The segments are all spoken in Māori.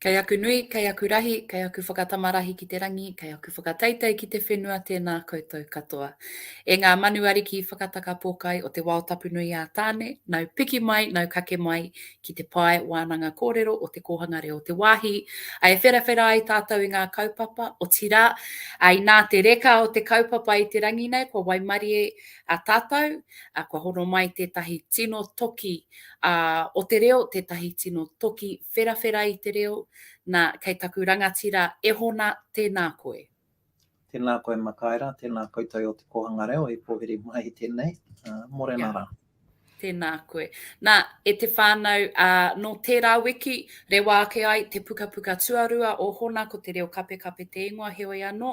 Kei aku nui, kei aku rahi, kei aku whakatamarahi ki te rangi, kei aku whakateitei ki te whenua tēnā koutou katoa. E ngā Manu Ariki whakataka pōkai o te wao tapu nui a Tāne, nau piki mai, nau kake mai, ki te pae wānanga kōrero o te kōhanga reo o te wāhi, ā, e wherawhera ai tātou i ngā kaupapa, otirā, ā, inā te reka o te kaupapa i te rangi nei, kua waimarie tātou, ā, kua hono mai tētahi tino toki o te reo, tētahi tino toki wherawhera i te reo, nā, kei taku rangatira e hona, tēnā koe. Tēnā koe Makaera, tēnā koutou o Te Kōhanga Reo e pōhiri mai tēnei, mōrena rā. Tēnā koe. Nā, e te whānau, ā, nō tērā wiki, rewa ake ai te pukapuka tuarua o Hona, ko Te Reo Kapekape te ingoa, heoi anō,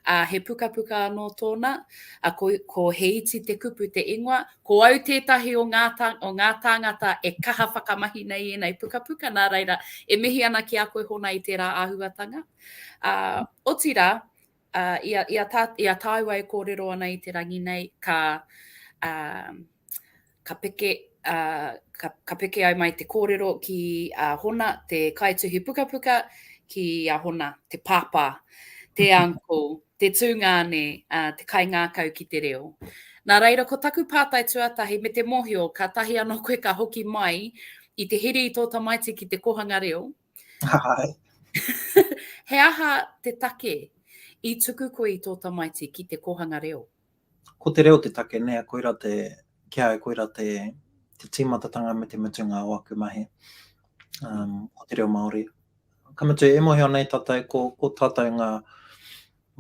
ā, he pukapuka anō tōna, ā, ko, ko He Iti Te Kupu te ingoa. Ko au tētahi o ngā, o ngā tāngata e kaha whakamahi nei i ēnei pukapuka, nā reira, e mihi ana ki a koe Hona i tērā āhuatanga. Ā, Otirā, i a tāua e kōrero ana i te rangi nei, ka peke ai mai te kōrero ki a Hona te kaituhi pukapuka, ki a Hona te pāpā, te uncle, te tūngāne, te kaingākau ki te reo. Nā reira, ko taku pātai tuatahi me te mōhio, kātahi anō koe ka hoki mai i te hiri i tō tamaiti ki te kōhanga reo, Hai. he aha te take i tuku koe i tō tamaiti ki te kōhanga reo? Ko te reo te take nē, koira te, ki a au koira te, te tīmatatanga me te mutunga o aku mahi, um, ko te reo Māori. Ka mutu, e mōhio nei tātou, ko, ko tātou ngā,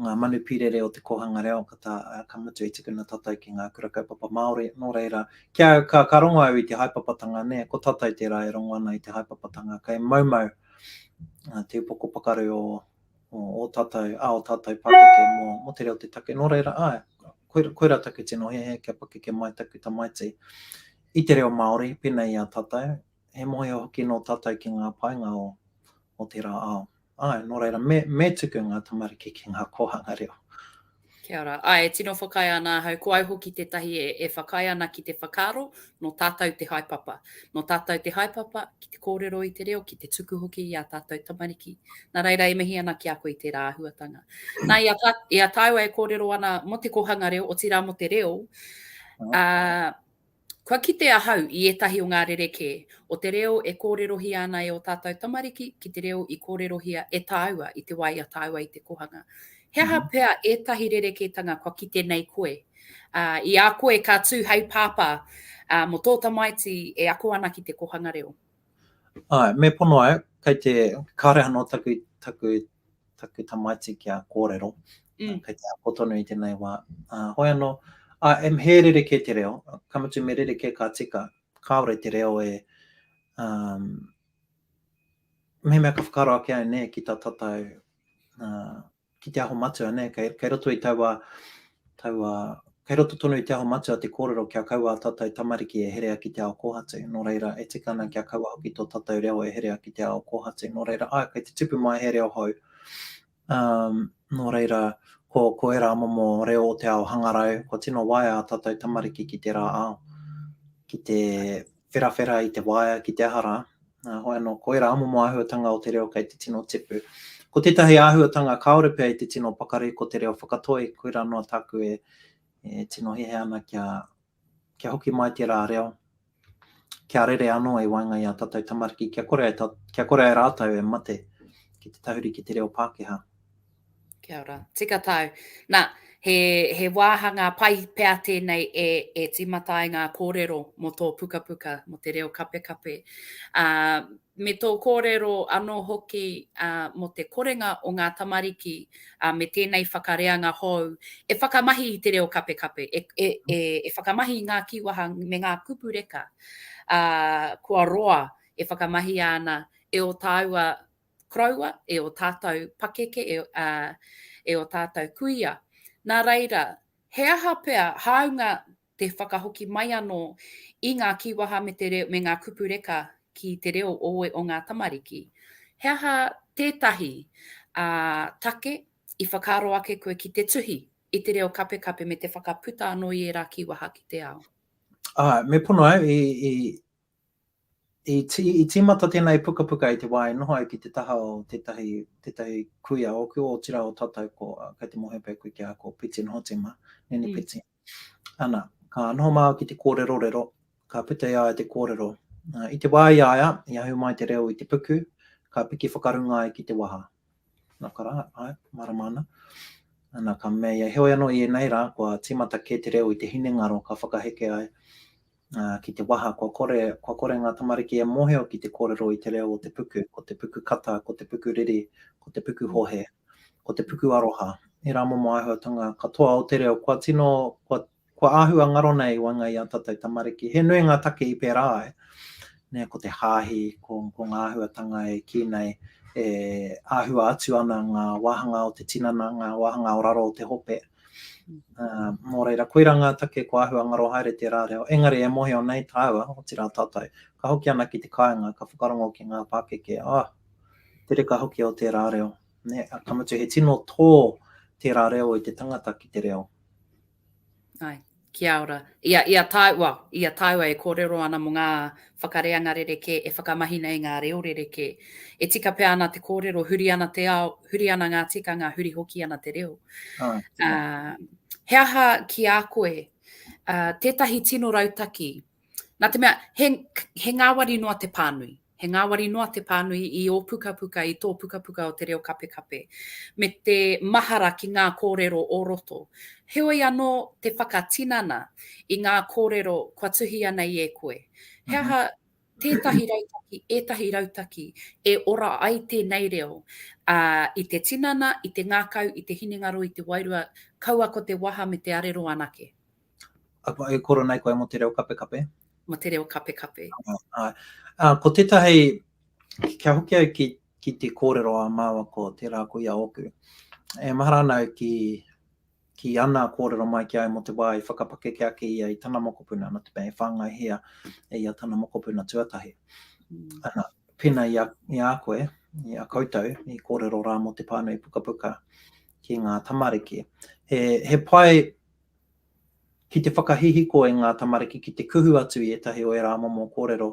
ngā manu pīrere o te kōhanga reo ka tā, ka mutu i tukuna tātou ki ngā kura kaupapa Māori, nō reira, ki au, ka, ka rongo au i te haepapatanga nē, ko tātou tērā e rongo ana i te haepapatanga kei moumou te upoko pakaru o, o ō tātou, a ō tātou pākeke mō, mō te reo te take, nō reira, āe, koira, koira taku tino hehe kia pakeke mai taku tamaiti i te reo Māori, pēnei i a tātou, he mōhio hoki nō tātou ki ngā painga o, o tērā ao. Āe, nō reira, me, me tuku ngā tamariki ki ngā kōhanga reo. Kia ora. Āe, e tino whakaae ana ahau, ko au hoki tētahi e, e whakaae ana ki te whakaaro, nō tātou te haepapa. Nō tātou te haepapa ki te kōrero i te reo, ki te tuku hoki i ā tātou tamariki. Nā reira, e mihi ana ki a koe i tērā āhuatanga. Nā, i a, tā, i a tāua e kōrero ana mō te kōhanga reo, otirā mō te reo, uh, Kua kite ahau i ētahi o ngā rerekē o te reo e kōrerohia ana e ō tātou tamariki ki te reo i kōrerohia e tāua i te wā i a tāua i te kōhanga. He aha pea ētahi rerekētanga kua kite nei koe? Ā, i a koe ka tū hei pāpā, ā, mō tō tamaiti e ako ana ki te kōhanga reo? Āe, me pono au, kei te, kāore anō taku, taku taku tamaiti kia kōrero, kei te ako tonu i tēnei wā. Ā, hoi anō, ā, em, he rerekē te reo, ka mutu me rerekē ka tika, kāore te reo e, ā, mehemea ka whakaaro ake au, nē, ki tā tātou, ā, ki te aho matua, nē, kei, kei roto i taua, Taua, kei roto tonu i te aho matua te kōrero kia kaua a tātou tamariki e herea ki te ao kōhatu, nō reira, e tika ana kia kaua hoki tō tātou reo e herea ki te ao kōhatu, nō reira, āe, kei te tupu mai he reo hou, ā, nō reira, ko, ko ērā momo reo o te ao hangarau, kua tino waea ā tātou tamariki ki tērā ao, ki te, wherawhera i te waea ki te aha rā, ā, hoi anō, koirā momo āhuatanga o te reo kei te tino tipu. Ko tētahi āhuatanga kāore pea i te tino pakari ko te reo whakatoi, koirā noa tāku e tino hiahia ana kia, kia hoki mai tērā reo, kia rere anō i waenga i ā tātou tamariki, kia kore ai, kia kore ai rātou e mate ki te tahuri ki te reo Pākehā. Kia ora. Tika tau. Na, he, he wāhanga pai pea tēnei e, e tīmata ai ngā kōrero mō tō pukapuka, mō te reo kapekape. Uh, me tō kōrero anō hoki uh, mō te korenga o ngā tamariki uh, me tēnei whakareanga hou e whakamahi i te reo kapekape, e, e, e, e whakamahi i ngā kīwaha me ngā kupu reka uh, kua roa e whakamahia ana e o tāua koroua, e ō tātou pakeke, e ō tātou kuia. Nā reira, he aha pea hāunga te whakahoki mai anō i ngā kīwaha me ngā kupu reka ki te reo o ngā tamariki? He aha tētahi take i whakaaro ake koe ki te tuhi i te reo kapekape me te whakaputa anō i ērā kīwaha ki te ao? Āe, me pono au, I tīmata tēnei pukapuka i te wā e noho ai ki te taha o tētahi kuia ōku, otirā o tātou ko, kei te mōhio pea koe ki a, ko Piten Hotema, Nene Piten. Ana, ka noho māua ki te kōrerorero, ka puta i a ia te kōrero. I te wā i a ia, i ahu mai te reo i te puku, ka piki whakarunga ai ki te waha. Nā ka rā, āe, mārama ana. Ana, ka mea ia, heoi anō i ēnei rā, kua tīmata kē te reo i te hinengaro ka whakaheke ai. ki te waha kua kore, kua kore ngā tamariki e mōhio ki te kōrero i te reo o te puku, ko te puku kata, ko te puku riri, ko te puku hohe, ko te puku aroha, ērā momo āhuatanga katoa o te reo kua tino, kua, kua āhua ngaro nei i waenga i ā tātou tamariki. He nui ngā take i pērā ai, nē, ko te hāhi, ko, ko ngā āhuatanga e kī nei, e āhua atu ana ngā wāhanga o te tinana, ngā wāhanga o raro o te hope, Uh, mō reira, koirā ngā take ko āhua ngaro haere tērā reo, engari e mohio nei tāua, otirā tātou, ka hoki ana ki te kāinga, ka whakarongo ki ngā pākeke, ah, te reka hoki o tērā reo. Ne, ka mutu he tino tō tērā reo i te tangata ki te reo. Ai, Kia ora. Ia, ia tāu, well, ia tāua e kōrero ana mō ngā whakareanga rerekē e whakamahi nei ngā reo rerekē. E tika pea ana te kōrero, huri ana te ao, huri ana ngā tikanga, huri hoki ana te reo. Ah, uh, he aha ki a koe, uh, tētahi tino rautaki Nā te mea, he, he ngāwari noa te pānui. He ngāwari noa te pānui i ō pukapuka, i tō pukapuka o te reo kapekape, me te mahara ki ngā kōrero o roto. Heoi anō te whakatinana i ngā kōrero kua tuhia nei e koe. He aha tētahi rautaki, ētahi rautaki e ora ai tēnei reo uh, i te tinana, i te ngākau, i te hinengaro, i te wairua, kaua ko te waha me te arero anake. E koro nei koe mo te reo kapekape. Mo te reo kapekape. Ae. Ko tetahi, kia hoki au ki ki te korero a maua ko tera ko ia oku. E mahara ana au ki ki ana korero mai ki au mo te wa i whakapakeke ake ia i tana mokopuna no te mea e whangai hea e ia tana mokopuna tuatahi. Ana, pena ia ia koe, ia koutou i korero ra mo te panui pukapuka ki nga tamariki. He he pai Ki te whakahihiko e ngā tamariki ki te kuhu atu i ētahi o ērā momo kōrero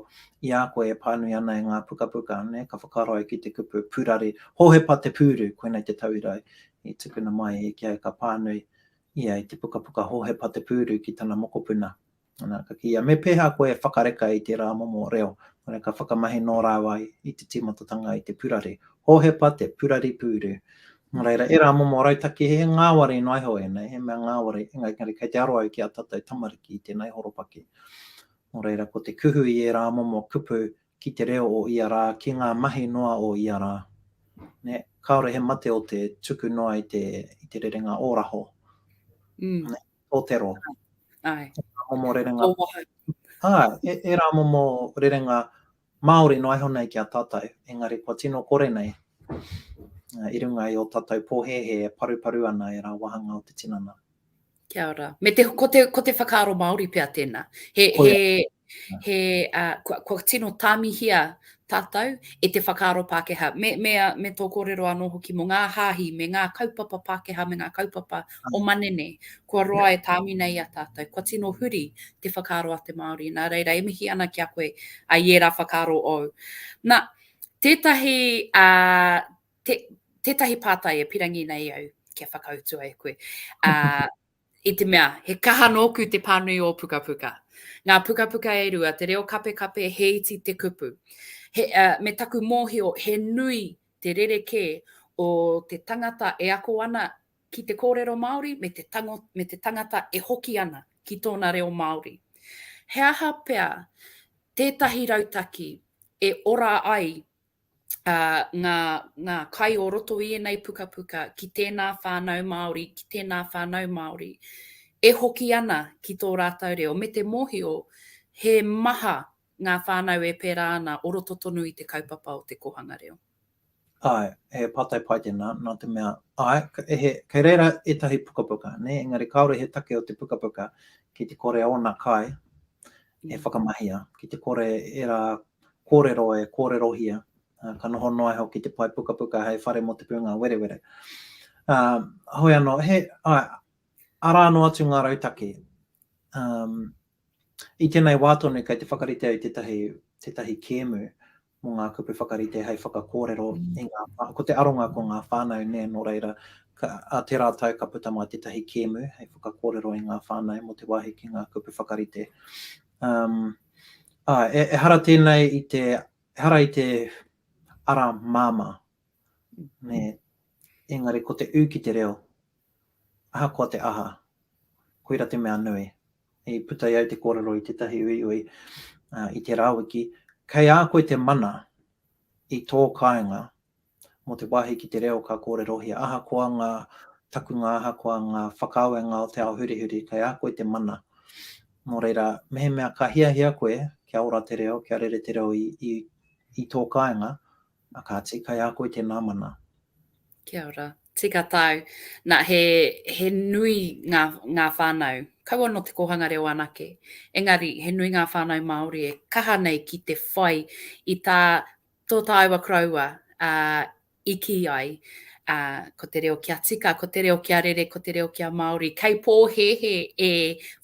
i a koe e pānui ana e ngā pukapuka, nē, ka whakaaro ai ki te kupu purari, Hohepa te pūru, koinei te tauira i tukuna mai e Ikeae ka pānui ia i te pukapuka Hohepa te pūru ki tana mokopuna. Ana, ka kīia, me pēhā koe e whakareka i tērā momo reo? Ana, ka whakamahi nō rāua i te tīmatatanga i te purari. Hōhepa te purari pūru. Nō reira, ērā momo rautaki, he ngāwari noa iho ēnei, he mea ngāwari, engari kei te aro au ki ā tātou tamariki i tēnei horopaki. Nō reira, ko te kuhu i ērā momo kupu ki te reo o ia rā, ki ngā mahi noa o ia rā, nē, kāore he mate o te tuku noa i te rerenga ōraho. Nē. tōtero. Ai. Ai. Ngā momo rerenga. Tō waha. Ai, e, e rā momo rerenga Māori noa iho nei ki a tātou, engari kua tino kore nei uh, i runga i o tātou pōhēhē e paruparu ana e rā wahanga o te tinana. Kia ora. Me te, ko, te, ko te whakaaro Māori pia tēnā. He, he, he, uh, kua, kua tino tāmihia tātou e te whakaaro Pākehā. Me, me, me tō kōrero anō hoki mō ngā hāhi, me ngā kaupapa Pākehā, me ngā kaupapa o ah. manene, kua roa e tāmi nei a tātou. Kua tino huri te whakaaro a te Māori. Nā reira, e mihi ana ki a koe a i ērā whakaaro ou. Nā, tētahi, uh, te, tētahi pātai e pirangi nei au kia whakautua e koe. Uh, i te mea, he kaha nōku te pānui o pukapuka. Ngā pukapuka e rua, te reo kapekape, he iti te kupu. He, uh, me taku mōhio, he nui te rerekē o te tangata e ako ana ki te kōrero Māori me te, tango, me te tangata e hoki ana ki tōna reo Māori. He aha pea tētahi rautaki e ora ai ngā kai o roto i ēnei pukapuka ki tēnā whānau Māori, ki tēnā whānau Māori, e hoki ana ki tō rātou reo, me te mōhio he maha ngā whānau e pērā ana o roto tonu i te kaupapa o te kōhanga reo. Āe, he pātai pai tēnā, nā te mea, āe, kei reira ētahi pukapuka, engari kāore he take o te pukapuka ki te kore ōna kai e whakamahia, ki te kore ērā kōrero e kōrerohia, ka noho noa iho ki te pae pukapuka hei whare mō te pūnga werewere. Um, hoi anō, he, ai, arā anō atu ngā rautaki. Um, I tēnei wā tonu, kei te whakaritea i tētahi, tētahi kēmu, mō ngā kupu whakarite hei whakakōrero i ngā, ko te aronga ko ngā whānau nē, nō reira, ka, ā, tērā tau ka puta mai tētahi kēmu hei whakakōrero i ngā whānau mō te wāhi ki ngā kupu whakarite. Um, ā, e, ehara tēnei i te, ehara i te ara māmā, nē, engari ko te ū ki te reo, ahakoa te aha, koira te mea nui. i puta i au te kōrero i tētahi uiui i te rawiki, kei a koe te mana i tō kāinga mō te wāhi ki te reo ka kōrerohia, ahakoa ngā takunga, ahakoa ngā whakaawenga o te ao hurihuri, kei a koe te mana. Nō reira, mehemea ka hiahia koe kia ora te reo, kia rere te reo i tō kāinga, Na, kāti, kai a koe tēnā mana. Kia ora. Tika tāu. Na, he, he nui ngā, ngā whānau, kaua nō te kōhanga reo anake, engari he nui ngā whānau Māori e kaha nei ki te whai i tā, tō tāua koroua, ā, i kī ai, ā, ko te reo kia tika, ko te reo kia rere, ko te reo kia Māori. Kei pōhēhē e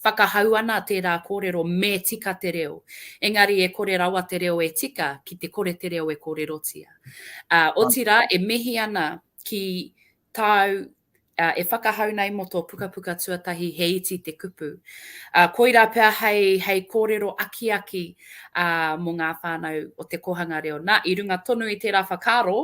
whakahau ana tērā kōrero me tika te reo, engari e kore rawa te reo e tika ki te kore te reo e kōrerotia. Ā, otirā, e mihi ana ki tāu e whakahau nei mō tō pukapuka tuatahi He Iti te Kupu. Ā, koirā pea hei, hei kōrero akiaki, ā, mō ngā whānau o te kōhanga reo. Nā, i runga tonu i tērā whakaaro,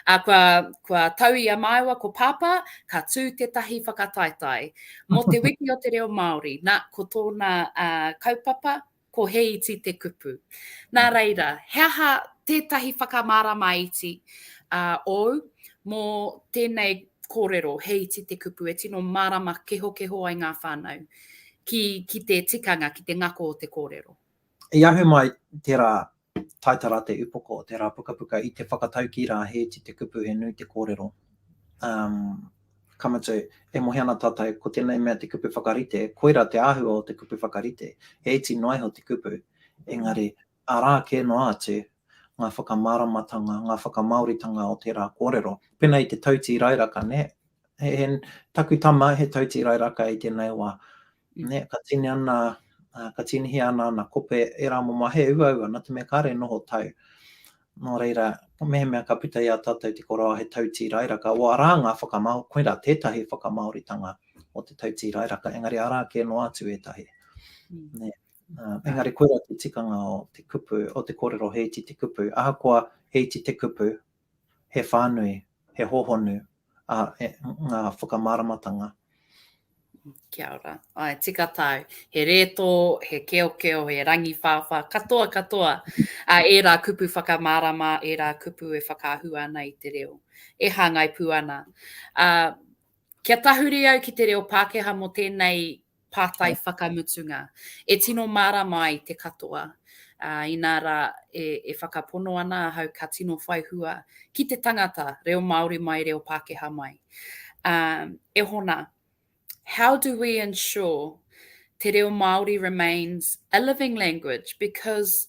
ā, kua, kua tau i a māua ko Pāpā, ka tū tētahi whakataetae mō te wiki o te reo Māori. Nā, ko tōna ā, kaupapa, ko He Iti te Kupu. Nā reira, he aha tētahi whakamārama iti ā, ōu mō tēnei kōrero, He Iti te Kupu, e tino mārama kehokeho ai ngā whānau ki, ki te tikanga, ki te ngako o te kōrero? I ahu mai te rā, taita rā te upoko o te rā pukapuka i te whakataukī rā he iti te kupu he nui te kōrero. Um, ka mutu, e mohi ana tātou ko tēnei mea te kupu whakarite, koirā te āhua o te kupu whakarite, he iti noa iho te kupu, engari arā kē noa atu ngā whakamāramatanga, ngā whakamāoritanga o tērā kōrero. Pēnā i te tautīrairaka, nē, he, he, taku tama he tautīrairaka i tēnei wā, nē, ka tīni ana, ka tīnihia ana ana kope e rā momo, he uaua, nā te mea kāre noho tau. Nō reira, mehemea ka puta i a tātou te koroa he tautīrairaka, o arā ngā whakamāo, koirā tētahi whakamāoritanga o te tautīrairaka, engari arā kē noa atu ētahi. Mm. Nē. Engari koirā te tikanga o te kupu, o te kōrero he iti te kupu. Ahakoa he iti te kupu, he whānui, he hōhonu a, e, ngā whakamāramatanga. Kia ora. Ai, tika tāu. He rētō, he keokeo, he rangiwhāwhā, katoa, katoa a ērā kupu whakamārama, ērā kupu e whakaahua ana i te reo, e hāngai pū ana. A, kia tahuri au ki te reo Pākehā mō tēnei pātai whakamutunga. E tino mārama ai te katoa, ā, inā rā e, e whakapono ana ahau ka tino whai hua ki te tangata, reo Māori mai, reo Pākehā mai. Ā, e hona, how do we ensure te reo Māori remains a living language because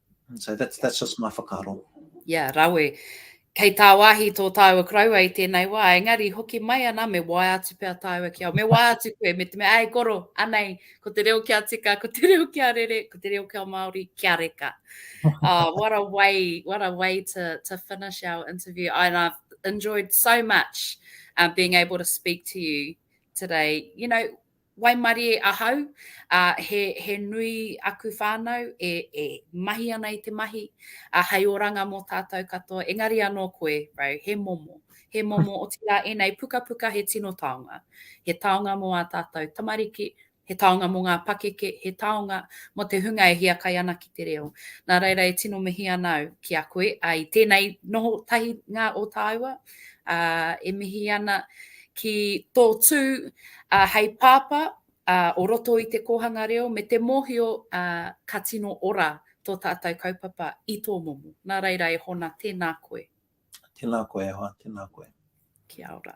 So that's, that's just my whakaro. Yeah, rawe. Kei tāwahi tō tāua karaua i tēnei wā, engari hoki mai ana, me wae atu pia tāua ki au. Me wae atu koe, me te mea, ai koro, anei, ko te reo kia tika, ko te reo kia rere, ko te reo kia Māori, kia reka. oh, what a way, what a way to, to finish our interview. And I've enjoyed so much uh, being able to speak to you today. You know, Waimarie ahau, ā, he, he nui aku whānau e, e mahi ana i te mahi, ā, hei oranga mō tātou katoa, engari anō koe, Ray, he momo, he momo, otirā ēnei pukapuka he tino taonga. He taonga mō ā tātou tamariki, he taonga mō ngā pakeke, he taonga mō te hunga e hiakai ana ki te reo. Nā reira e tino mihi ana au ki a koe, ā, i tēnei noho tahi ngā o tāua, e mihi ana ki tō tū hei pāpā o roto i te kōhanga reo me te mōhio ka tino ora tō tātou kaupapa i tō momo. Nā reira e Hona, tēnā koe. Tēnā koe e hoa, tēnā koe. Kia ora.